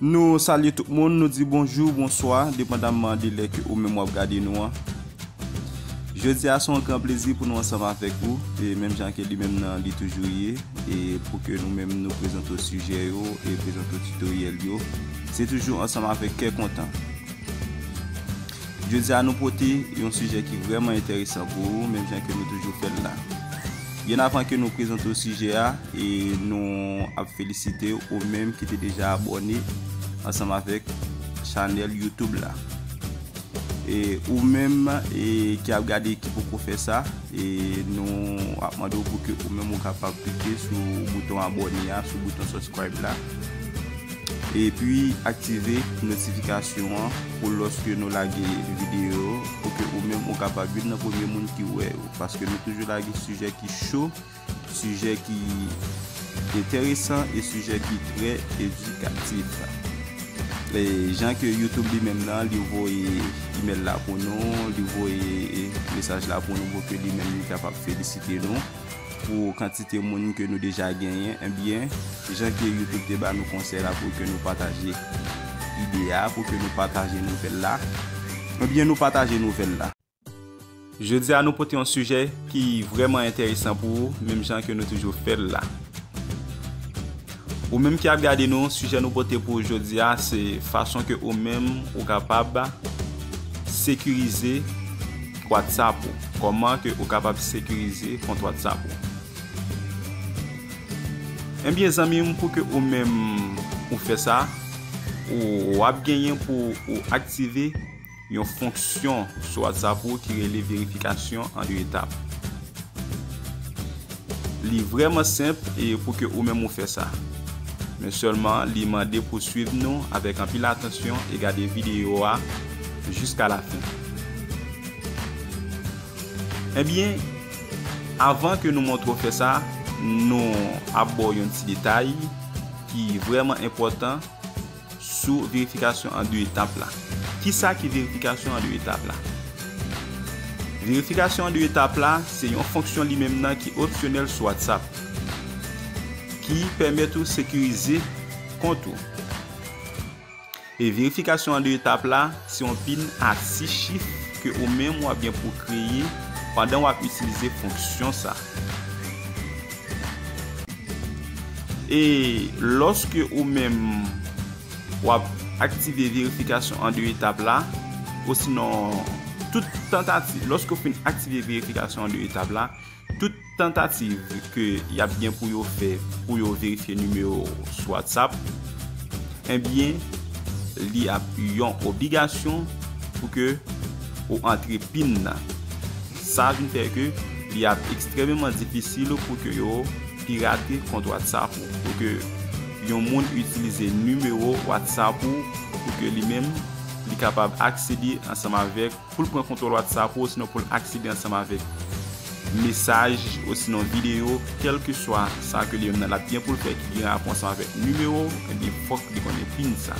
Nou salye tout moun, nou di bonjou, bonswa, depandamman de lè ke ou menm wap gade nou an. Jodi a se yon gran plezi pou nou ansanm avèk ou, e menm jan ke li menm nan li toujou ye, e pou ke nou menm nou prezante w sijè yo, e prezante w tutoriel yo, se toujou ansanm avèk kè kontan. Jodi a nou pote yon sijè ki vrèman enteresan pou ou, menm jan ke nou toujou fè l la. Byen avan ke nou prezante w sijè a, nou ap felisite ou menm ki te deja abòne ansanm avèk chanèl YouTube la. E ou menm ki ap gade e ki poko fè sa, nou ap mande w pou ke ou menm ou kapab klike sou bouton abòne a, sou bouton subscribe la. E pi aktive notifikasyon an pou lòske nou lage videyo pou ke ou menm ou kapab youn nan premye moun ki wè yo. Paske nou toujou lage sijè ki cho, sijè ki enteresan e sijè ki trè edikatif. E jan ke YouTube li menm nan, li voye email la pou nou, li voye mesaj la pou nou pou ke li menm li kapab felisite nou pou kantite moun ke nou deja genyen, enbyen jan ke YouTube te ba nou konsèy la pou ke nou pataje ide a, pou ke nou pataje nouvèl la, enbyen nou pataje nouvèl la. Jodi a nou pote yon sijè ki vrèman enteresan pou ou menm jan ke nou toujou fèl la. Ou menm ki ap gade nou, sijè nou pote pou ou jodi a se fason ke ou menm ou kapab sekirize WhatsApp ou. Koman ke ou kapab sekirize kont WhatsApp ou. Enbyen eh zanmi m pou ke ou menm ou fè sa, ou ap genyen pou ou aktive. Yon fonksyon sou WhatsApp ou ki rele verifikasyon an 2 etap. Li vrèman senp e pou ke ou menm ou fè sa. Men sèlman li mande pou swiv nou avèk anpil atansyon e gade videyo a jiska lafen. Ebyen, avan ke nou montre w fè sa, nou ap ba w yon ti detay ki vrèman enpòtan. Sou verifikasyon an 2 etap la. Kisa ki verifikasyon an 2 etap la? Verifikasyon an 2 etap la se yon fonksyon li menm nan ki opsyonèl sou WhatsApp ki pèmèt ou sekirize kont ou. E verifikasyon an 2 etap la se yon pin a 6 chif ke ou menm wap gen pou kreye pandan wap itilize fonksyon sa. E lòske ou menm w ap aktive verifikasyon an 2 etap la, osinon tout tantativ, lòske ou fin aktive verifikasyon an 2 etap la, tout tantativ ke y ap gen pou yo fè pou yo verifye nimewo ou sou WhatsApp, enbyen li ap yon obligasyon pou ke ou antre pin nan. Sa vin fè ke li ap ekstrememan difisil pou ke yo pirate kont WhatsApp ou, pou ke yon moun itilize nimewo WhatsApp ou pou ke li menm li kapab aksede ansanm avèk, pou l pran kontwòl WhatsApp ou osinon pou l aksede ansanm avèk mesaj osinon videyo, kèlkeswa sa ke li menm nan l ap gen pou l fè ki gen rapò ansanm avèk nimewo, ebyen fòk li konnen pin sa.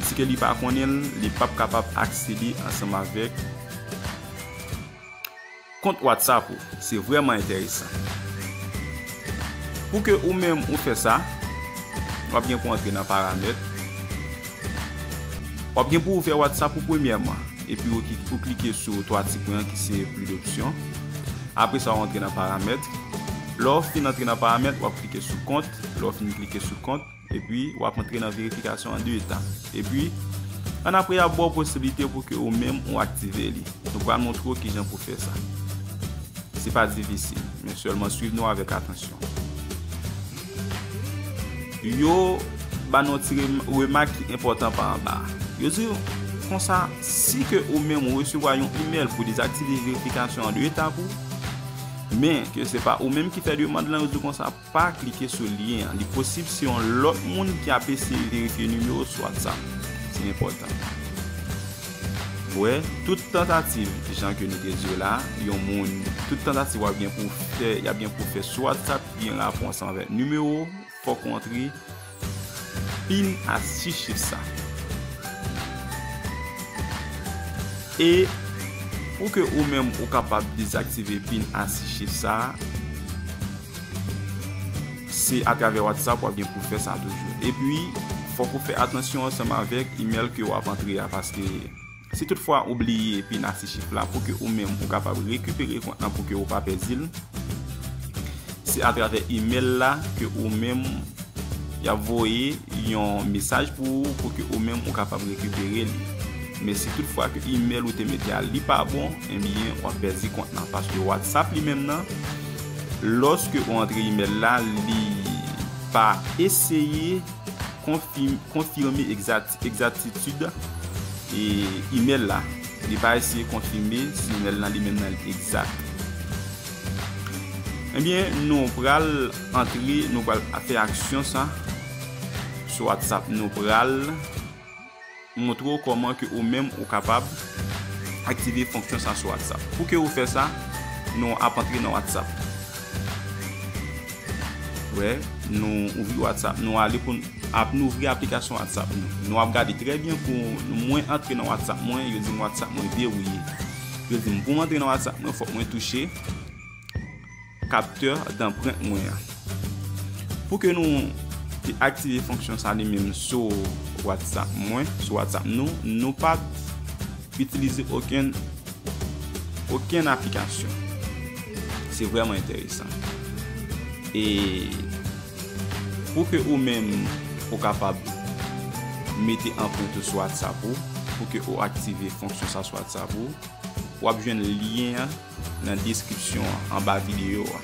Si ke li pa konnen l, li p ap kapab aksede ansanm avèk. Kont WhatsApp ou se vreman enteresan. Pou ke ou menm ou fè sa, wap gen pou antre nan paramèt. Wap gen pou ouvè WhatsApp ou premyèman. E pi ou klike sou 3 ti pwen an ki se plus d'options. Apre sa ou antre nan paramèt. Lè ou fin antre nan paramèt, wap klike sou kont. Lè ou fin klike sou kont. Epi, w ap antre nan verifikasyon an 2 etap. Epi, annapre y ap ba w posiblite pou ke ou menm ou aktive li. Nou pral montre w kijan pou fè sa. Se pa difisil, men sèlman swiv nou avèk atansyon. Yo ba nou yon ti remak ki enpòtan pa anba a. Yo di nou, konsa, si ke ou menm ou resevwa yon imèl pou dezaktive verifikasyon an 2 etap ou, men ke se pa ou menm ki fè demand lan, yo di w konsa, Pa klike sou lyen an. Li posib se yon lòt moun ki ap eseye verifye nimewo sou WhatsApp. Se enpòtan. Wè, tout tantativ, jan ke nou te di yo la, yon moun, tout tantativ wap gen pou w fè, yap gen pou w fè sou WhatsApp ki gen rapons anvè nimewo, fòk ou antre. Fin astiche sa. E pou ke ou menm ou kapab dezaktive pin astiche sa, se atravè WhatsApp wap gen pou fè sa toujou. E pi fòk ou fè atansyon ansanm avèk email ke wap antre a paske. Si tout fwa ou bliye epi nan ti chif la pou ke ou menm ou kapab rekipere kont lan pou ke ou pa pèdi l, se a travè email la ke ou menm y ap voye yon mesaj pou ou pou ke ou menm ou kapab rekipere li. Men si tout fwa ke email ou te mete a li pa bon, enbyen w ap pèdi kont lan paske WhatsApp li menm nan lòske ou antre email la li pa eseye konfime, konfime egzati. Egzaktitud imèl la, li pa eseye konfime si imèl la li menm nan li egzak. Ebyen nou pral antre, nou pral fè aksyon sa sou WhatsApp. Nou pral montre ou kòman ke ou menm ou kapab aktive fonksyon sa sou WhatsApp. Pou ke ou fè sa, nou ap antre nan WhatsApp. Wè, nou ouvri WhatsApp, nou ale pou nou. Ap nou ouvri aplikasyon whatsapp nou nou ap gade trè byen pou mwen antre nan whatsapp mwen yo dim whatsapp mwen derouye yo dim pou mwen antre nan whatsapp mwen fòk mwen touche kaptè danprent mwen an pou ke nou te aktive fonksyon sa li menm sou whatsapp mwen sou whatsapp nou nou pa itilize oken oken aplikasyon se vreman enteresan e Pou ke ou menm ou kapab mete anpwent ou sou WhatsApp ou, pou ke ou aktive fonksyon sa sou WhatsApp ou, wap jwenn lyen an nan deskripsyon an, anba videyo a.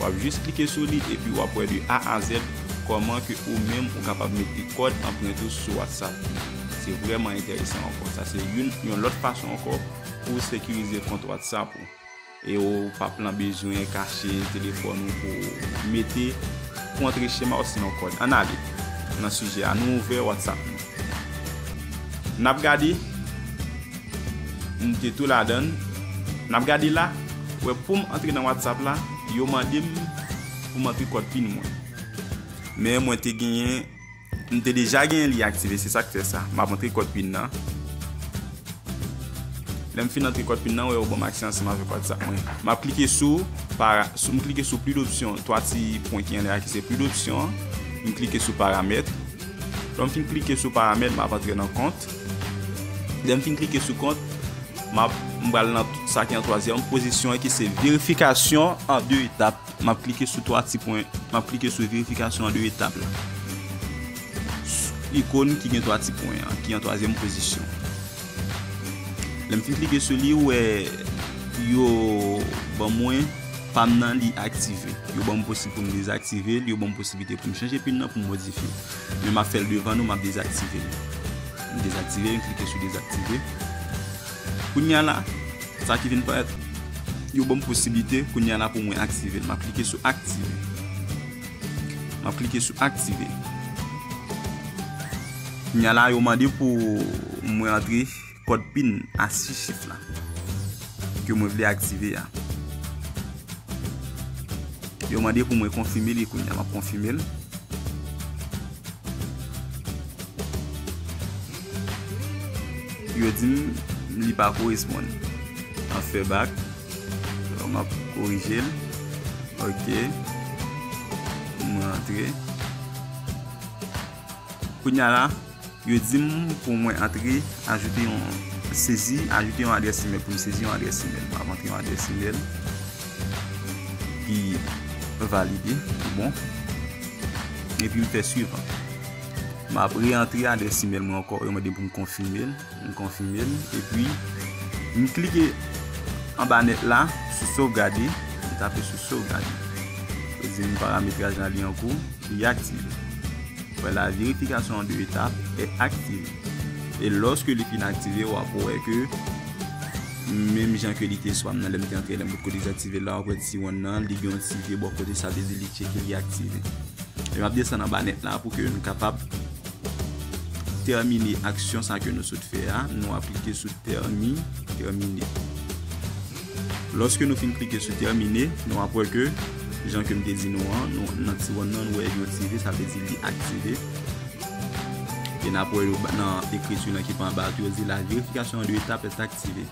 Wap jis klike sou li epi wap wè de A a Z kòman ke ou menm ou kapab mete kòd anpwent ou sou WhatsApp ou. Se vrèman enteresan ankò. Sa se youn, yon lòt fason ankò pou ou sekirize kont WhatsApp ou. E ou pap lan bezwen kache telefòn ou pou mete pou antre chema osinon kòd. Ann ale nan sijè a, nou ouvè WhatsApp nou. N ap gade, m te tou ladan l. N ap gade la, ou wè pou m antre nan WhatsApp la, yo mande m pou m antre kòd pin mwen. Men mwen te genyen. M te deja genyen li aktive se sak fè sa. Map antre kòd pin nan. Lèm fin antre kòd pin nan wè yo banm aksè ansanm avèk WhatsApp mwen. Map klike sou para m klike sou pli dopsyon 3 ti pwen ki anlè a ki se pli dopsyon m klike sou paramèt. Lèm fin klike sou paramèt map antre nan kont. Lèm fin klike sou kont map m pral nan sa ki an twazyèm pozisyon ki se verifikasyon an 2 etap. Map klike sou 3 ti pwen, map klike sou verifikasyon an 2 etap la. Ikon ki gen 3 ti pwen an, ki an 3 zièm pozisyon. Lèm fin klike sou li, ou wè yo ban mwen pam nan li aktive. Yo ban mwen posib pou m dezaktive li, yo ban mwen posibilite pou m chanje pin nan, pou m modifye l. Men map fèl devan nou, map dezaktive li. M dezaktive li, m klike sou dezaktive. Kounya la, sa ki vin parèt, yo banm posiblite kounya la pou mwen aktive l. Map klike sou aktive. Map klike sou aktive. Kounya la yo mande pou mwen antre kòd pin a 6 chif la. Ke mwen vle aktive a. Yo mande pou mwen konfime li kounya. Map konfime l. Yo di m li pa koresponn. Map fè bak. Donk map korije l. Ok. M rantre. Kounya la, yo di m pou mwen antre, ajoute yon, sezi, ajoute yon adrès imèl. Pou m sezi yon adrès imèl. Map antre yon adrès imèl. epi valide tout bon epi m fè suivant m ap re antre adrès imèl mwen ankò yo mande m pou m konfime l m konfime l epi m klike anba nèt la sou sovgade m tape sou sovgade yo di m parametraj la li an kou li aktive ou wè la verifikasyon an 2 etap e aktive e lòske li fin aktive w ap wè ke. Menm jan ke li te swa m nan lè m te antre la m pot ko dezaktive la wap wè ti wonn nan li gen yon ti vye bò kote sa vle di li tcheke li aktive e map desann anba nèt la pou ke nou kapab tèmine aksyon sa ke nou sot fè a nou ap klike sou tèmi tèmine lòske nou fin klike sou tèmine nou ap wè ke jan ke m te di nou an nan ti wonn nan nou wè yon ti vye sa vle di li aktive. E nap wè yo nan ekriti nan ki pa anba a ki yo di la verifikasyon an de etap est aktive.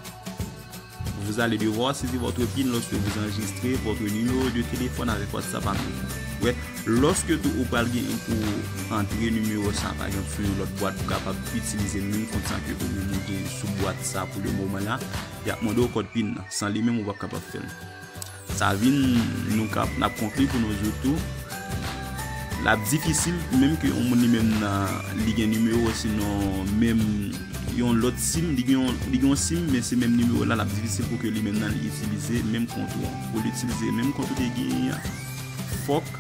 Vous allez devoir saisir votre pin lorsque vous enregistrez votre numéro de téléphone avec WhatsApp à nouveau. Wè, lorsque tou ou pral gen pou ou antre numéro sa pa gen sou yon lòt bwat pou kapab itilize menm kont sa ke ou menm ou gen sou bwat sa pou le moman la, yap mande ou kòd pin nan. San li menm ou pap kapab fèl. Sa vin nou kap nap konkli pou nou jou tou lap difisil pou menm ke yon moun li menm nan li gen nimewo si non menm yon lòt sim li gen yon sim men se menm nimewo la lap difisil pou ke li menm nan li itilize menm kont ou an pou li itilize menm kont ou te genyen an fòk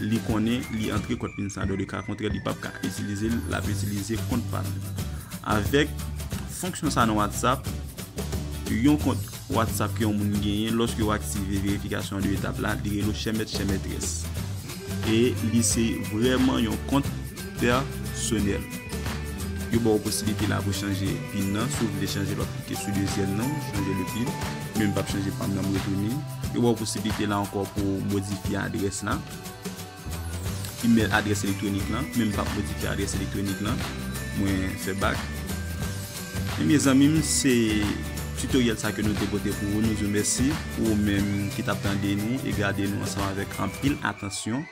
li konnen li antre kòd pin sa dòdeka kontrè li pap ka itilize l lap itilize kont pal avèk fonksyon sa nan whatsapp yon kont. WhatsApp ke yon moun genyen lòske ou aktive verifikasyon 2 etap la li rele w chè mèt chè mètrès e li se vrèman yon kont pèsonèl yo ba w posiblite la pou chanje pin nan si w vle chanje l wap klike sou dezyèm nan chanje le pin men m pap chanje pa m nan m retounen yo ba w posiblite la ankò pou w modifye adrès la. Email adrès elektwonik lan men m pap modifye adrès elektwonik lan mwen fè bak ebyen zanmi m se tutoriel sa ke nou te pote pou ou nou di w mèsi pou ou menm ki tap tande nou e gade nou ansanm avèk anpil atansyon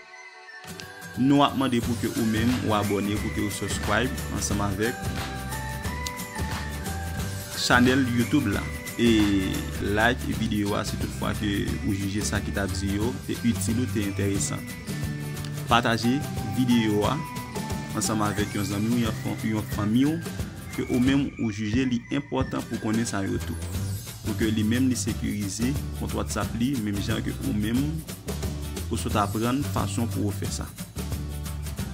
nou ap mande pou ke ou menm ou abòne pou ke ou subscribe ansanm avèk chanèl youtube la. E like videyo a si tout fwa ke ou jije sa ki tap di yo te itil ou te enteresan. Pataje videyo a ansanm avèk yon zanmi ou yon yon fanmi ou ke ou menm ou jije li enpòtan pou konnen sa yo tou. Pou ke li menm li sekirize kont WhatsApp li menm jan ke ou menm ou sot aprann fason pou ou fè sa.